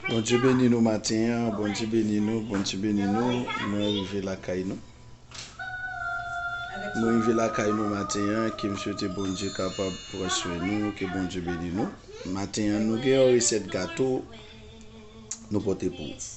Bondye beni nou matin an bondye beni nou bondye beni nou mwen rive lakay nou mwen rive lakay nou matin an ke m swete bondye kapab pran swen nou ke bondye beni nou matin an nou gen yon resèt gato nou pote pou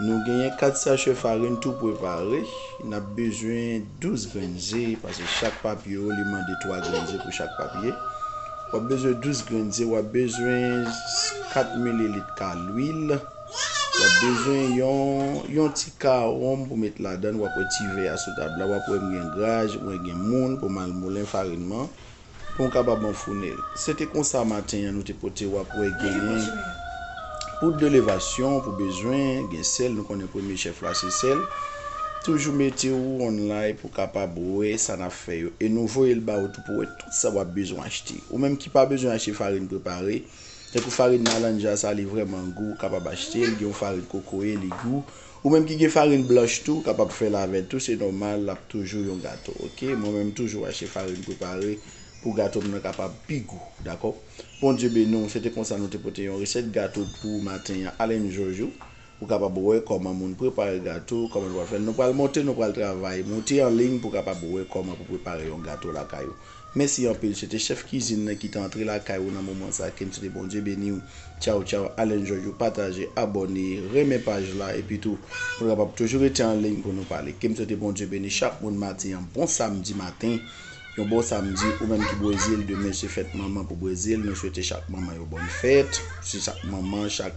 Nou genyen 4 sachè farin tou prepare. N ap bezwen 12 grenn ze, pase chak papye yo li mande 3 grenn ze pou chak papye. W ap bezwen 12 grenn ze, w ap bezwen 4 mililit ka lwil, w ap bezwen yon ti ka wonm pou met ladann, w ap wè ti vè a sou tab la, w ap wè m gen graj, mwen gen moul pou m al moulen farin man. pou m kapab anfoune l. Se te konsa maten an nou te pote w ap wè genyen poud de levasyon pou bezwen, gen sèl nou konnen premye chèf la se sèl. Toujou mete ou online pou kapab wè sa n ap fè yo e nou voye l ba ou tou pou wè tout sa w ap bezwen achte. Ou menm ki pa bezwen achte farin prepare, tankou farin malanja sa li vrèman gou ou kapab achte l, gen yon farin kokoye li gou. Ou menm ki gen farine blanch tou ou kapab fèl avèl tou se nòmal lap toujou yon gato ok mwen menm toujou achte farine prepare pou gatom nan kapab pi gou dakò Bondye beniw se te konsa nou te pote yon resèt gato pou ou maten an ale m joj ou pou kapab wè kòman moun prepare gato kòman nou pral fèl nou pral monte nou pral travay monte anliy pou kapab wè kòman pou prepare yon gato lakay ou. Mèsi anpil se te chèf kizin nan ki te antre lakay ou nan moman sa kem swete Bondye beniw tchaw tchaw Alain George yo pataje abòne renmen paj la epi tou pou nou kapab toujou rete an liy pou nou pale kem swete Bondye beni chak moun madi an bon samdi maten yon bon samdi ou menm ki brezil demen se fèt manman pou brezil nou swete chak manman yo bòn fèt se chak manman chak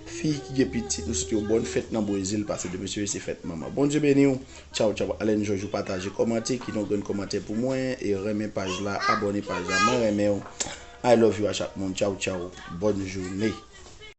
fi ki gen pitit nou swete yo bòn fèt nan brezil pase demen se fèt manman Bondye beniw. Tchaw tchaw Alain Georges ou pataje kòmante kite yon grenn kòmantè pou mwen e renmen paj la abòne paj la mwen renmenw I love you a chak moun tchaw tchaw bòn joune.